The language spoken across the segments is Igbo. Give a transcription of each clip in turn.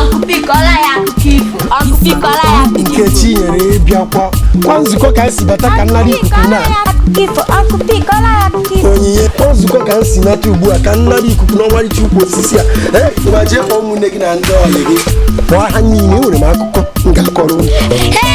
akụpikọla ya akụkọ ifo akụpikọla ya akụkọ ifo nkechinyere ị bịakwa ọ kwa nzukọ ka m si bata ka m nara ikuku na akụpikọla ya akụkọ ifo onyinye kwa nzukọ ka m si nata ugbu a ka m nara ikuku n'ọmarịcha ukwu osisi a ee ma jee kpọọ ụmụnne gị na ndị ọyị gị kpọọ ha niile enwere m akụkọ m ga-akọrọ unu Hey!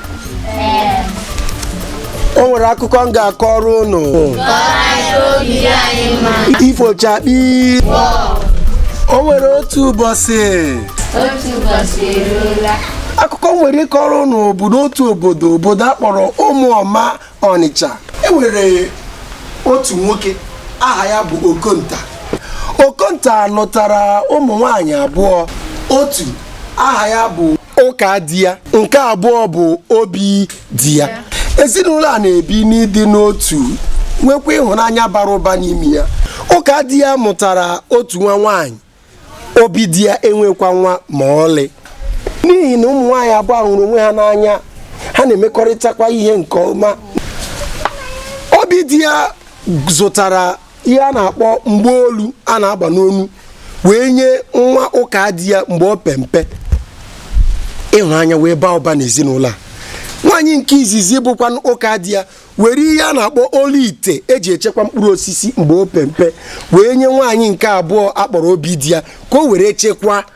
o nwere akụkọ m ga-akọrọ unu ifo chakpii o nwere otu ụbọchị otu ụbọchị eruola akụkọ m nwere ịkọrọ unu bụ n'otu obodo obodo a kpọrọ ụmụọma ọnịcha e nwere otu nwoke aha ya bụ okonta okonta lụtara ụmụ nwanyị abụọ otu aha ya bụ ụkadiya nke abụọ bụ obidiya ezinụlọ a na-ebi n'ịdị n'otu nwekwa ịhụnanya bara ụba n'ime ya ụkadiya mụtara otu nwa nwaanyị obidiya enwekwa nwa ma ọlị n'ihi na ụmụ nwaanyị abụọ a hụrụ onwe ha n'anya ha na-emekọrịtakwa ihe nke ọma obidiya zụtara ihe a na-akpọ mgbaolu a na-agba n'onu wee nye nwa ụkadiya mgbe o pe mpe ịhụnanya wee baa ụba n'ezinụlọ a nwaanyị nke izizi bụkwanụ ụkadiya were ihe a na-akpọ olu ite e ji echekwa mkpụrụ osisi mgbe o pe mpe wee nye nwaanyị nke abụọ a kpọrọ obidiya ka o were chekwa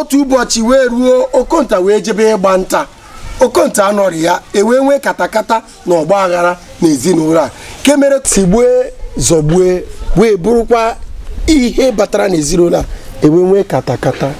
otu ụbọchị wee ruo okonta wee jebe ịgba nta okonta anọghị ya e wee nwee katakata na ọgba aghara na ezinụlọ a nke mere tigbue zọgbue wee bụrụkwa ihe batara n'ezinụlọ a e wee nwee katakata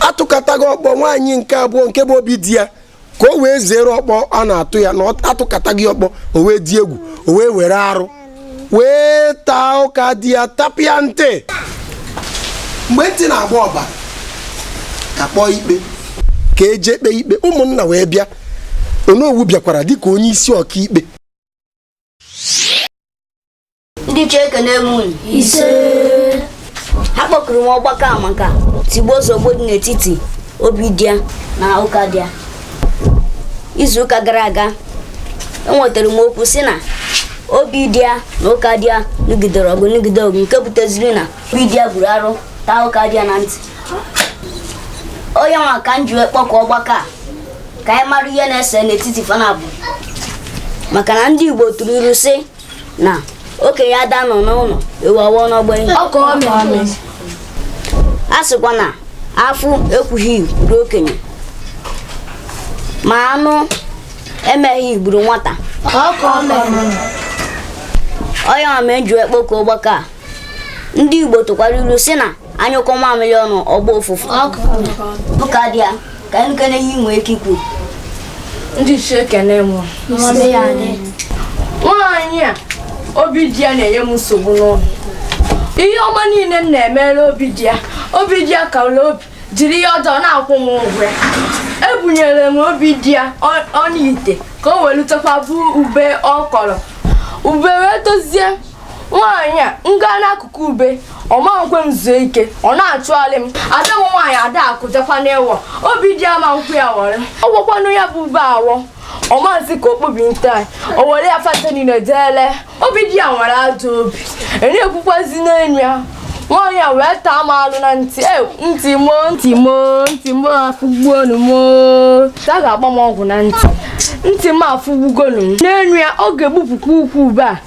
a tụkata gị ọkpọ nwaanyị nke abụọ nke bụ obidiya ka o wee zere ọkpọ a na-atụ ya na a tụkata gị ọkpọ o wee dị egwu o wee were arụ wee taa ụkadiya tapịa ntị mgbe ntị na-agba ọbara ka a kpọọ ikpe ka e je kpee ikpe ụmụnna wee bịa onowu bịakwara dịka onye isi ọkaikpe ndị ichie ekene m unu ise akpọkuru m ọgbakọ a maka tigbuo zọgbuo dị n'etiti obidiya na ụkadiya izu ụka gara aga enwetara m okwu sị na obidiya na ụkadiya nụgidere ọgụ nụgide ọgụ nke buteziri na obidiya buru arụ taa ụkadiya na ntị ọ ya nwa ka m ji wee kpọkọ ọgbakọ a ka anyị mara ihe na-ese n'etiti fa naabọ maka na ndị Igbo tụrụ ilu sị na okenye ada nọ n'ụlọ ewu amụọ n'ọgbụ ihe ọka omee a sịkwa na afụ ekwughị gburu okenye ma anụ emeghị gburu nwata ọka omee ọ ya mere m ji kpọkọọ ọgbakọ a ndị Igbo tụkwara ilu si na a nyụkọọ mamịrị ọnụ ọ gbaa ụfụfụ Ụkadiya ka anyị kene ihe i nwee ike ikwu ndị ichie ekene m nwaanyị a Obidiya na-enye m nsogbu n'ụlọ ihe ọma niile m na-emere Obidiya Obidiya kalụ obi jiri ihe ọjọọ na-akwụ m ụgwọ ya ebunyere m Obidiya ọnụ ite ka o welu chekwaba ube ọ kọrọ ube wee tozie nwaanyị a m gaa n'akụkụ ube ọ ma-ekwe m zuo ike ọ na-achụgharị m ada m nwaanyị Adakụ jekwa ịwọ Obidiya ama ekwe ya wọrọ ọ wọkwanụ ya bụ ube awọ ọ ma-asị ka okpobi nte anyị o were ya fata niile deele Obidiya nwere ajọ obi enyekwukwazi n'enyi ya nwaanyị a wee taa m alụ na ntị e ntị m o ntị m o ntị m o afụgbuonu m o ta ga-agba m ọgwụ na ntị ntị m afụgbugonu m n'enyi ya ọ ga-egbupụkwa ukwu ube a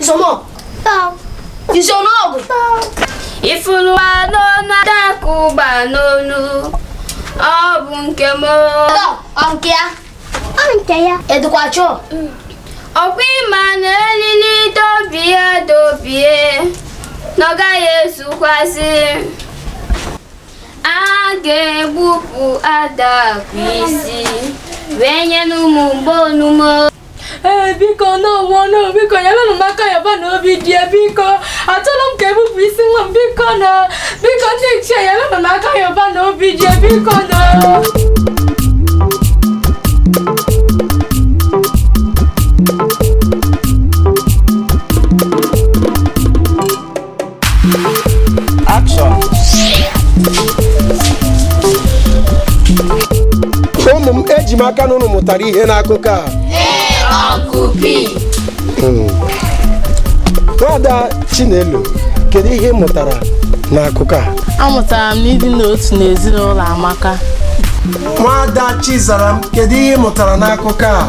Isomọgụ. Isomọgụ. Ị fụrụ ọna Adakụ gba n'onu. Ọ bụ nke m. Ọ nke ya. Ọ nke ya. Edukwa chọọ. Ọ kwa ị ma na elili dọbie dọbie na ọ gaghị ezukwa isi. A ga-egbupụ Adakụ isi wee nyenụ mụ mgbaonu m o. ee bikonụ ụnụ biko yelụnụ m aka yọbanụ Obidiya biko achọrọ m ka e gbupụ isi nwa m bikonụ biko ndị ichie yelụnụ m aka yọbanụ Obidiya bikonụ Action! ụmụ m eji m aka na ụnụ mụtara ihe n'akụkọ a nwada chinelo kedu ihe ị mụtara n'akụkọ a Amụtara m na ịdị n'otu n'ezinụlọ amaka. nwada chizaram kedu ihe ị mụtara n'akụkọ a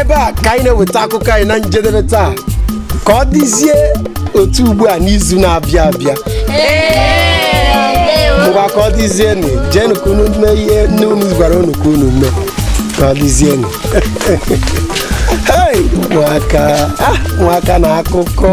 ebe a ka anyị na-eweta akụkọ anyị na njedebe taa ka ọ dịzie otu ugbu a n'izu na-abịa abịa ngwa ka ọ dịzienụ jeenụ ka unu mee ihe nne unu gwara unu ka unu mee ka ọ dịzienụ hei ụmụaka ah, ụmụaka na akụkọ